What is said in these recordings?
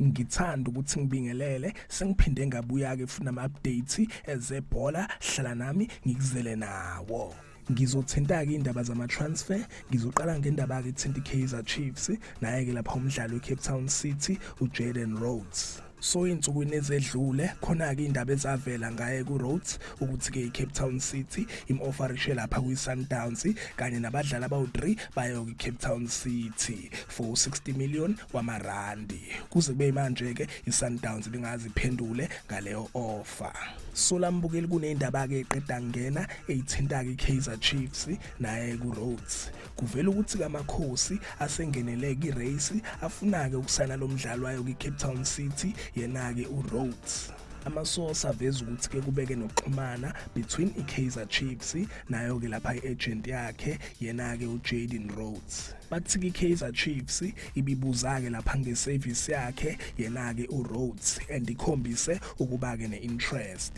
ngithanda ukuthi ngibingelele sengiphinde ngabuya ke funa ama updates ezebhola hlala nami ngikuzele nawo ngizothinta-ke iy'ndaba zama-transfer ngizoqala ngendaba ke thinta i-kaizer chiefs naye-ke lapha umdlali we-cape town city ujaden rhodes so insukwini ezedlule khona ke indaba ezavela ngaye ku Rhodes ukuthi ke iCape Town City imofferishe lapha kwi Sundowns kanye nabadlali abawu3 bayo ku Cape Town City for 60 million wamarandi kuze kube manje ke iSundowns lingaziphendule ngaleyo offer solambukeli kunendaba ke eqeda ngena eyithinta ke Kaizer Chiefs naye ku Rhodes Kuvela ukuthi kaMakhosi asengenele kwi-race afuna-ke ukusayina lo mdlali wayo kwi-Cape Town City yena-ke uRhodes. amasource aveza ukuthi ke kubeke nokuxhumana between iKaizer Chiefs nayo ke lapha iagent yakhe yena ke uJaden Rhodes bathi iKaizer Chiefs ibibuza ke lapha ngeservice yakhe yena ke uRhodes and ikhombise ukuba ke neinterest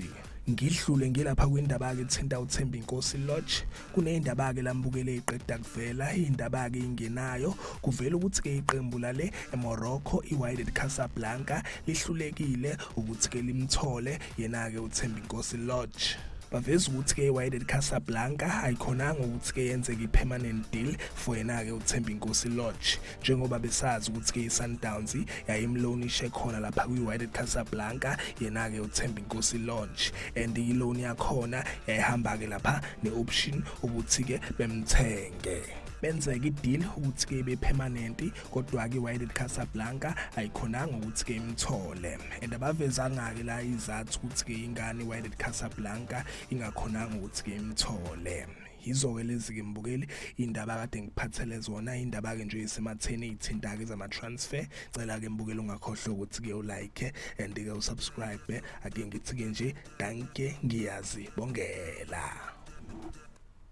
ngidlule ngilapha kwindaba-ke ethinta uthemba inkosi lodge kuneyindaba-ke lambukele iqeda kuvela iyindaba-ke ingenayo kuvela ukuthi-ke iqembu lale emorocco i-wyded casablanca lihlulekile ukuthi-ke limthole yena-ke uthemba inkosi lodge baveza ukuthi-ke i-wyded casablanca ayikhonanga ukuthi-ke yenzeke i-permanent deal for yena-ke uthemba inkosi lodge njengoba besazi ukuthi-ke i-sundowns yayimlonishe khona lapha kwi-wyded casablanca yena-ke uthemba inkosi launch and iloni yakhona yayihamba-ke lapha ne-option ukuthi-ke bemthenge benzeka ideal ukuthi ke ibe permanent kodwa ke Wydad Casablanca ayikhonanga ukuthi ke imthole and abavezanga ke la izathu ukuthi ke ingane Wydad Casablanca ingakhonanga ukuthi ke imthole yizo-ke lezi-ke mbukeli iy'ndaba kade ngikuphathele zona iy'ndaba-ke nje esematheni ey'thinta-ke zama-transfer cela-ke mbukeli ungakhohlwa ukuthi-ke ulike and-ke usubscribe ake ngithi-ke nje danke ngiyazi bongela